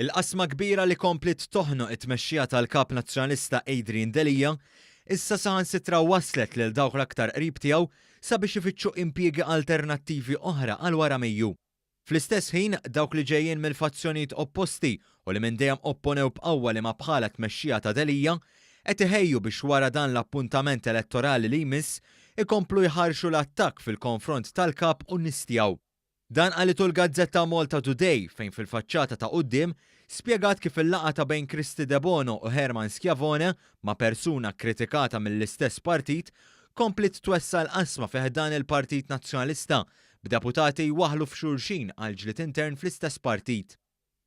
Il-qasma kbira li kompliet toħnoq it-tmexxija tal-Kap Nazzjonalista Adrian Delia issa saħansitra wasslet lil dawk l-aktar qrib tiegħu sabiex ifittxu impjiegi alternattivi oħra għal wara Mejju. Fl-istess ħin, dawk li ġejjin mill-fazzjonijiet opposti u li minn dejjem opponew b'qawwa li ma' bħala tmexxija ta' Delia, qed iħejju biex wara dan l-appuntament elettorali li jmiss ikomplu jħarrxu l-attakk fil-konfront tal-Kap u n-nies tiegħu. Dan qalitu l-gazzetta MaltaToday fejn fil-faċċata ta' quddiem spjegat kif il-laqgħa ta' bejn Kristy Debono u Herman Schiavone ma' persuna kkritikata mill-istess partit kompliet twessa' l-qasma fi ħdan il-Partit Nazzjonalista b'deputati jwaħħlu f'xulxin għal ġlied intern fl-istess partit.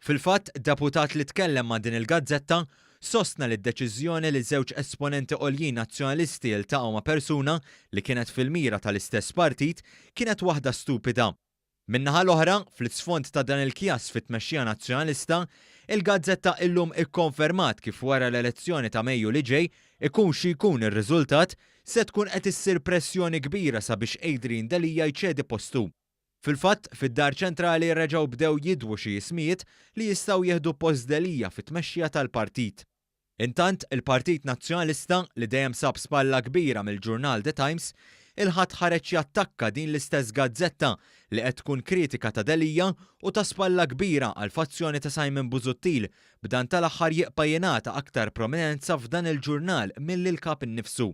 Fil-fatt, deputat li tkellem ma' din il-gazzetta sostna li d-deċiżjoni li żewġ esponenti għoljin Nazzjonalisti jiltaqgħu ma' persuna li kienet fil-mira tal-istess partit kienet waħda stupida. Min-naħa l-oħra, fl-isfond ta' dan il-kjass fit-tmexxija Nazzjonalista, il-gazzetta illum ikkonfermat kif wara l-elezzjoni ta' Mejju li ġej, ikun xi jkun ir-riżultat, se tkun qed issir pressjoni kbira sabiex Adrian Delia jċedi postu. Fil-fatt, fid-Dar Ċentrali reġgħu bdew jidwu xi ismijiet li jistgħu jieħdu post Delia fit-tmexxija tal-partit. Intant, il-Partit Nazzjonalista, li dejjem sab spalla kbira mill-ġurnal The Times, il-Ħadd ħareġ jattakka din l-istess gazzetta li qed tkun kritika ta' Delia u ta' spalla kbira għall-fazzjoni ta' Simon Busuttil, b'dan tal-aħħar jibqa' jingħata aktar prominenza f'dan il-ġurnal milli l-Kap innifsu.